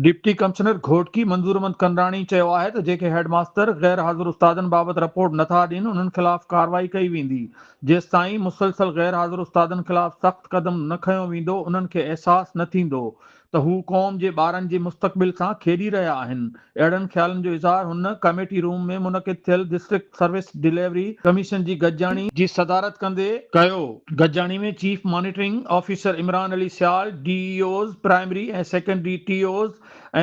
Deputy commissioner Ghotki منظورمند ڪنڊراڻي چيو آهي ته جيڪي هيڊ ماستر غير حاضر استادن بابت رپورٽ نٿا ڏين انهن خلاف ڪارروائي ڪئي ويندي جيستائين مسلسل غير حاضر استادن خلاف سخت قدم نه کنيو ويندو انهن کي احساس نه ٿيندو ته هو قوم جي ٻارن جي مستقبل سان کيڏي رهيا آهن اهڙن خيالن جو اظهار هن ڪميٽي روم ۾ منعقد ٿيل ڊسٽرڪٽ سروس ڊليوري ڪميشن جي گڏجاڻي جي صدارت ڪندي ڪيو. گڏجاڻي ۾ chief monitoring officer Imran Ali Sial, D E Os primary ۽ secondary, T Os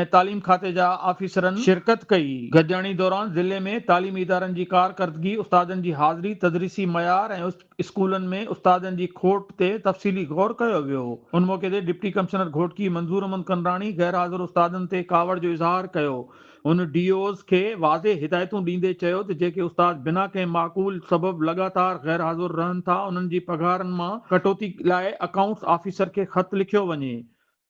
۽ تعليم کاتي جا آفيسرن شرڪت ڪئي. گڏجاڻي دوران ضلعي ۾ تعليمي ادارن جي ڪارڪردگي، استادن جي حاضري، تدريسي معيار ۽. اسڪولن ۾ استادن جي کوٽ تي تفصيلي غور ڪيو ويو. ان موقعي تي ڊپٽي ڪمشنر گهوٽڪي منظور احمد ڪنڊراڻي غيرحاضر استادن تي ڪاوڙ جو اظهار ڪيو. هن ڊي اوز کي واضح هدايتون ڏيندي چيو ته جيڪي استاد بنا ڪنهن معقول سبب لڳاتار غيرحاضر رهن ٿا انهن جي پگهارن مان ڪٽوتي لاء اڪائونٽس آفيسر کي خط لکيو وڃي.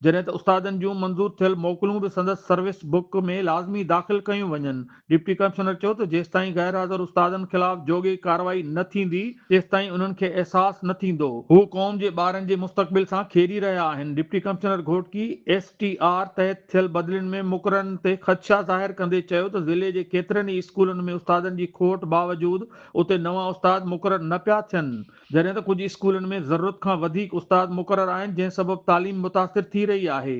جڏهن ته استادن جون منظور ٿيل موڪلون به سندس سروس بڪ ۾ لازمي داخل ڪيون وڃن. ڊپٽي ڪمشنر چيو ته جيستائين غير حاضر استادن خلاف جوڳي ڪارروائي نه ٿيندي تيستائين انهن کي احساس نه ٿيندو. هو قوم جي ٻارن جي مستقبل سان کيڏي رهيا آهن. Deputy commissioner Ghotki S T R تحت ٿيل بدلين ۾ مقررن تي خدشا ظاهر ڪندي چيو ته ضلعي جي ڪيترن ئي اسڪولن ۾ استادن جي کوٽ باوجود اتي نوان استاد مقرر نه پيا ٿين. جڏهن ته ڪجهه اسڪولن ۾ ضرورت کان وڌيڪ استاد مقرر آهن جنهن سبب تعليم متاثر ٿي رهي آهي.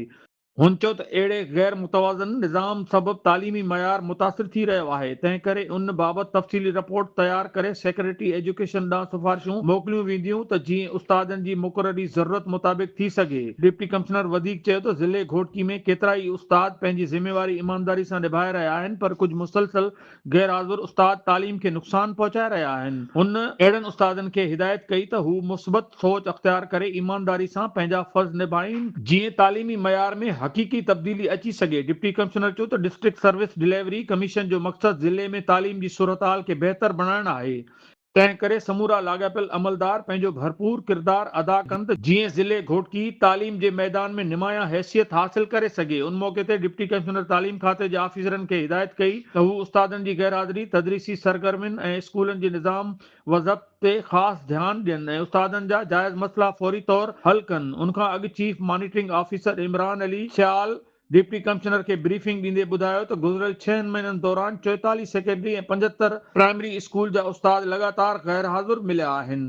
هن چيو ته اهڙي غير متوازن نظام سبب تعليمي معيار متاثر ٿي رهيو آهي تنهنڪري ان بابت تفصيلي رپورٽ تيار ڪري سيڪريٽري ايجوڪيشن ڏانهن سفارشون موڪليون وينديون ته جيئن استادن جي مقرري ضرورت مطابق ٿي سگهي. ڊپٽي ڪمشنر وڌيڪ چيو ته ضلعي گهوٽڪي ۾ ڪيترائي استاد پنهنجي ذميواري ايمانداري سان نڀائي رهيا آهن پر ڪجهه مسلسل غيرحاضر استاد تعليم کي نقصان پهچائي رهيا آهن. هن اهڙن استادن کي هدايت ڪئي ته هو مثبت سوچ اختيار ڪري ايمانداري سان پنهنجا فرض نڀائين جيئن تعليمي معيار ۾ حقيقي تبديلي اچي سگهي. ڊپٽي ڪمشنر چيو ته ڊسٽرڪٽ سروس ڊليوري ڪميشن جو مقصد ضلعي ۾ تعليم جي صورتحال کي بهتر بڻائڻ آهي، تنهن ڪري سمورا لاڳاپيل عملدار پنهنجو ڀرپور ڪردار ادا ڪن ته جيئن ضلعي گهوٽڪي تعليم جي ميدان ۾ نمايان حيثيت حاصل ڪري سگهي ان موقعي تي ڊپٽي ڪمشنر تعليم کاتي جي آفيسرن کي هدايت ڪئي ته هو استادن جي غيرحاضري تدريسي سرگرمين ۽ اسڪولن جي نظام وضبط تي خاص ڌيان ڏين ۽ استادن جا جائز مسئلا فوري طور حل ڪن ان کان اڳ chief monitoring officer Imran Ali Sial deputy commissioner کي بريفنگ ڏيندي ٻڌايو ته گذريل ڇهن مهينن دوران چوئيتاليهه سيڪنڊري ۽ پنجهتر پرائمري اسڪول جا استاد لڳاتار غيرحاضر مليا آهن.